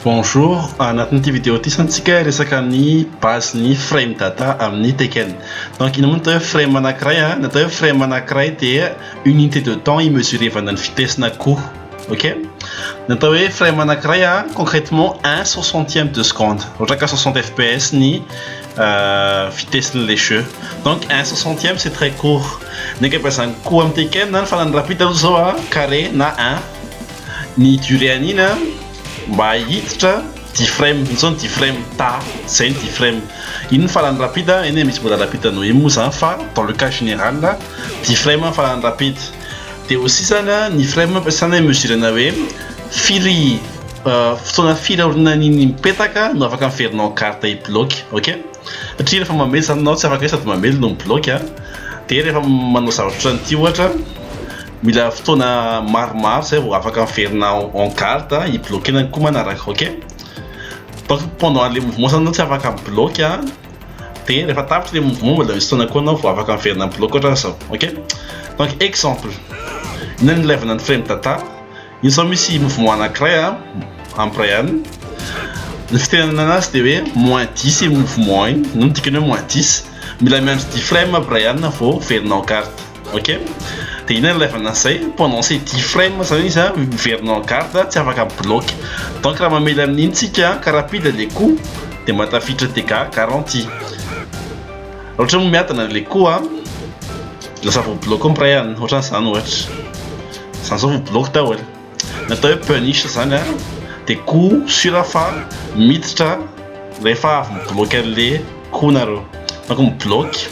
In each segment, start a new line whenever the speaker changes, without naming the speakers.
Bonjour, anatin'ity vidéo ity zany tsika resaka ny base ny frame data amin'ny Tekken. Donc ina moa atao hoe frame anankiray a? Ny atao hoe frame anankiray dia unité de temps imesurevana ny vitesse-na koa. Ok Ny atao hoe frame anankiray a concrètement 1 soixantième de seconde ohatra ka 60 fps ny euh, vitesse-n'ilay jeu donc 1 soixantième c'est très court ny ankabeazan'ny ko amin'ny Tekken na ny fanan'ny rapide aloha zao a carré na 1 ny durée an'iny a mba hiditra 10 frame iny zao ny 10 frame ta zay ny 10 frame iny ny faran'ny rapide eny misy mbola rapide noho iny moa zany fa dans le cas général 10 frame ny faran'ny rapide Dia aussi zany ny frais ampiasana i mesurena hoe firy fotoana firy aorinan'iny mipetaka no afaka averinao carte hiblock ok satria rehefa mamely zany anao tsy afaka hoe sady mamely no miblock a dia rehefa manao zavatra otran'ity ohatra mila fotoana maromaro zay vao afaka miverina en garde hiblockena ny ko manaraka ok donc pendant le mouvement zany anao tsy afaka miblock a. dia rehefa tapitra ilay mouvement mbola misy fotoana koa anao vao afaka miverina amin'ny bloc ohatran'izao ok donc exemple ina ny ilaivana ny frame data iny izao misy mouvement anankiray a amin'ny Brian ny fitenenana anazy dia hoe moins 10 iny mouvement iny no midika ny hoe moins 10 mila miandry 10 frame Brian vao miverina en carte Ok, dia inona ilay ilevana an'izay? Pendant ces dix frames izany izy an, miverina en garde, tsy afaka mi-bloque. Donc raha mamely amin'iny tsika ka rapide ilay coup dia mba tafiditra dégâts garantis. Raha ohatra moa miadana ilay coup an, lasa voa-bloque ny mpiray alina, ohatran'izany ohatra. Izany izao voa-bloque daholo. Ny atao hoe punish izany dia coup sur fa miditra rehefa avy mi-bloquer an'ilay coup nareo. Fa koa mi-bloquer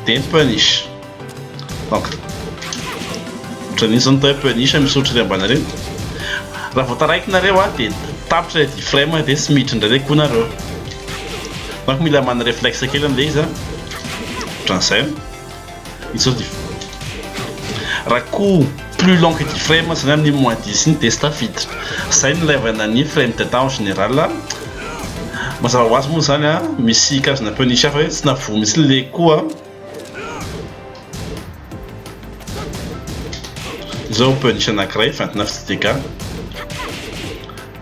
dia mi-punish. Donc, ohatran'iny izao ny atao hoe punish misy ohatran'ireny ambany ireny. Raha vao taraiky nareo dia tapitra ilay D-frame dia tsy miditra indray ilay coup nareo. Donc mila mana reflexe kely amin'ilay izy an. Ohatran'izay. izao dia raha koa plus long que dix frames zany amin'ny moins dix iny dia tsy tafiditra, izay no ilaivana ny frame de temps en général, mazava ho azy moa izany an, misy karazana punish hafa hoe tsy navoa mihitsy ilay coup an, izao punish anankiray vingt neuf de dégâts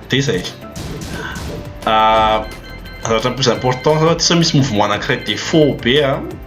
dia izay, zavatra plus important zao dia sao misy mouvement anankiray defaut be an.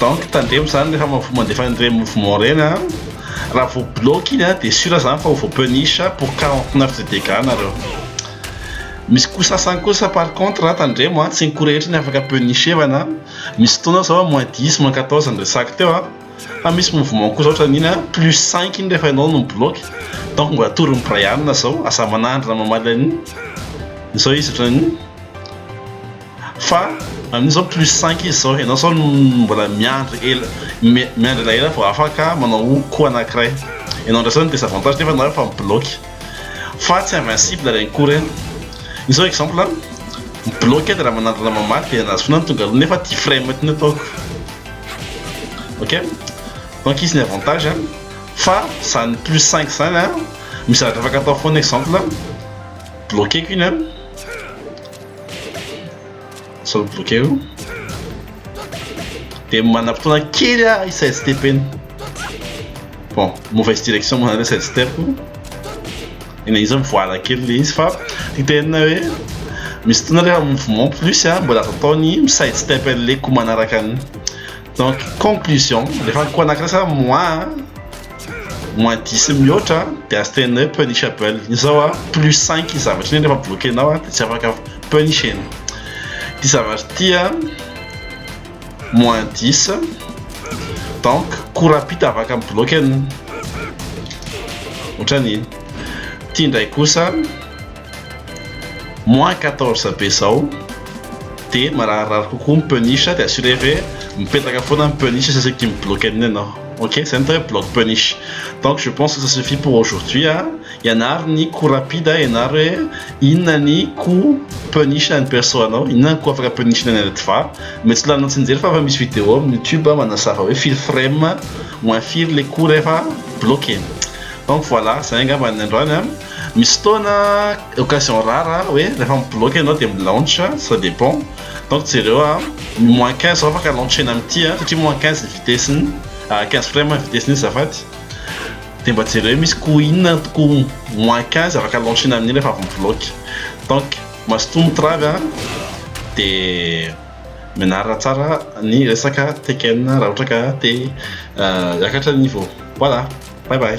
Donc tandremo zany rehefa mavo mandefa an'ireny mouvement ireny a raha vao bloque iny a de sûr zany fa ho vao punish pour 49 de dégâts nareo misy coup sasany kosa par contre a tandremo a tsy ny coup rehetra ny afaka punishevana misy fotoana zao moins 10 moins 14 ny resako teo a fa misy mouvement kosa ohatra an'iny a plus 5 iny rehefa ianao no mibloque donc mbola atoron'i Brian zao aza manandrina mamaly an'iny izao izy ohatran'iny Fa amin'io zao plus cinq izy zao, ianao zao mbola miandry ela, miandry elaela vao afaka manao coup anankiray, ianao ndray zao ny desavantage nefa nareo efa mi-bloque, fa tsy invincible reny coup reny, io zao exemple an, mi-bloque dia raha manandrana mamaly dia anazy foana no tonga aloha nefa ity frame ity no ataoko, ok? Donc izy ny avantage an, fa zany plus cinq zany an, misy zavatra afaka atao foana exemple an, bloqueko iny an. Solo bloqué io. Dia manam-potoana kely aho hi-side step eny. Bon, mauvaise direction moa zany side step. Eny izy mivoala kely le izy fa ny tena hoe misy fotoana rehefa mouvement plus a mbola azo atao ny mi-side step an'ilay ko manaraka an'iny. Donc conclusion, rehefa ko anankiray sa moi moins dix mihoatra a de azo teneno hoe punishable iny zao a plus cinq iny zavatra iny refa bloquenao a de tsy afaka punishena ty zavatra ty a moins dix donc coup rapide afaka mi-bloque an'iny otran'iny ty ndray kosa Moins quatorze be zao de mararirary kokoa ny punish de assurer hoe mipetraka foana ny punish sy saika mi-bloque an'iny ianao ok zay no atao hoe bloque punish donc je pense que ça suffit pour aujourd'hui a, ianaro ny coup rapide a, ianaro hoe inona ny coup punish an'ny perso anao, inona ny coup afaka punish-na ny Redva, mety tsy laninao tsinjery fa efa misy video amin'ny youtube a manazava hoe firy frame moins firy le coup rehefa bloque, donc voilà zay angamba ny androany a. Misy fotoana occasion rare hoe rehefa mi-bloque ianao dia mi-launch, ça dépend. Donc jereo à moins 15 vao afaka launcher-na amin'ity an, satria moins 15 ny vitesse-ny, 15 frame ny vitesse-ny azafady. Dia mba jereo hoe misy coup inona coup moins 15 afaka launcher-na amin'iny rehefa avy mi-bloque. Donc mazotoa mitravy an, dia mianara tsara ny resaka Tekken raha ohatra ka te hiakatra ny niveau. Voilà, bye bye.